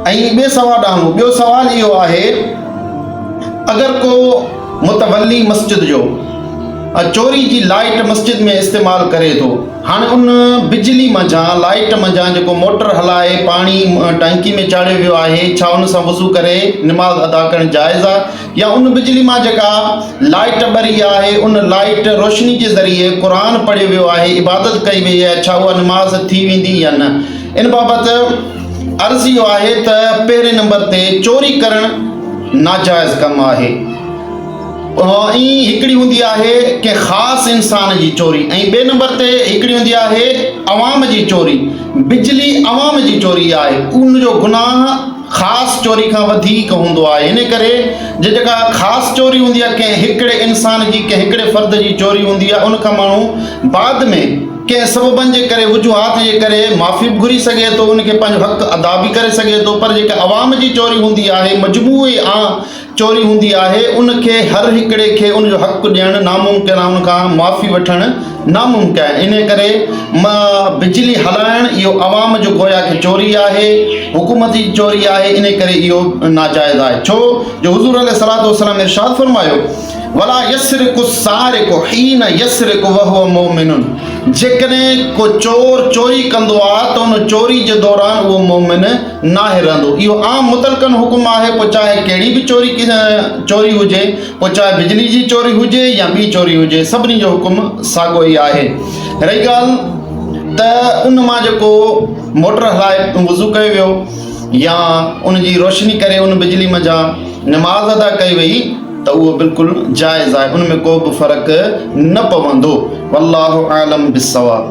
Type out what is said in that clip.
ائين ٻئي سوا ڏانهن ٻيو سوال اهو آهي اگر ڪو متولي مسجد جو چوري جي لائيٽ مسجد ۾ استعمال ڪري ٿو هاڻي ان بجلي منجهان لائيٽ منجهان جيڪو موٽر هلائي پاڻي ٽانڪي ۾ چاڙهيو ويو آهي ڇا ان سان وضو ڪري نماز ادا ڪرڻ جائز آهي يا ان بجلي مان جيڪا لائيٽ ٻري آهي ان لائيٽ روشني جي ذريعي قرآن پڙهيو ويو آهي عبادت ڪئي وئي آهي ڇا اها نماز ٿي ويندي يا نه ان بابت عرض اهو آهي ته پهرين نمبر تي چوري ڪرڻ ناجائز ڪم آهي ۽ هڪڙي هوندي آهي ڪنهن خاص انسان جي چوري ۽ ٻئي نمبر تي هڪڙي هوندي آهي عوام جي چوري بجلي عوام جي چوري آهي ان جو گناهه خاص چوري کان وڌيڪ هوندو آهي ان ڪري جي جيڪا خاص چوري هوندي آهي ڪنهن هڪڙي انسان جي ڪنهن هڪڙي فرد جي چوري هوندي آهي ان کان ماڻهو بعد ۾ ڪنهن سببن جي ڪري، وجوهات جي ڪري معافي به گهري سگهي ٿو، ان کي پنهنجو حق ادا به ڪري سگهي ٿو، پر جيڪا عوام جي چوري هوندي آهي، مجموعي آن چوري هوندي آهي، ان کي هر هڪڙي کي ان جو حق ڏيڻ ناممڪن آهي، ان کان معافي وٺڻ ناممڪن آهي، انهيء ڪري بجلي هلائڻ اهو عوام جو گويا ڪي چوري آهي، حڪومت جي چوري آهي، انهيء ڪري اهو ناجائز آهي، ڇو جو حضور عليه الصلوة والسلام ارشاد فرمايو. ولا يسرق السارق حين يسرق وهو مؤمن جيڪڏهن ڪو چور چوري ڪندو آهي ته ان چوري جي دوران اهو مؤمن ناهي رهندو اهو عام متلقن حڪم آهي پوء چاهي ڪهڙي به چوري چوري هجي پوء چاهي بجلي جي چوري هجي يا ٻي چوري هجي سڀني جو حڪم ساڳو ئي آهي رهي ڳالهه ته ان مان جيڪو موٽر هلائي وضو ڪيو ويو يا ان جي روشني ڪري ان بجلي منجهان نماز ادا ڪئي وئي ته اهو بلڪل جائز آهي ان ۾ ڪو به فرق نه پوندو والله اعلم بالصواب.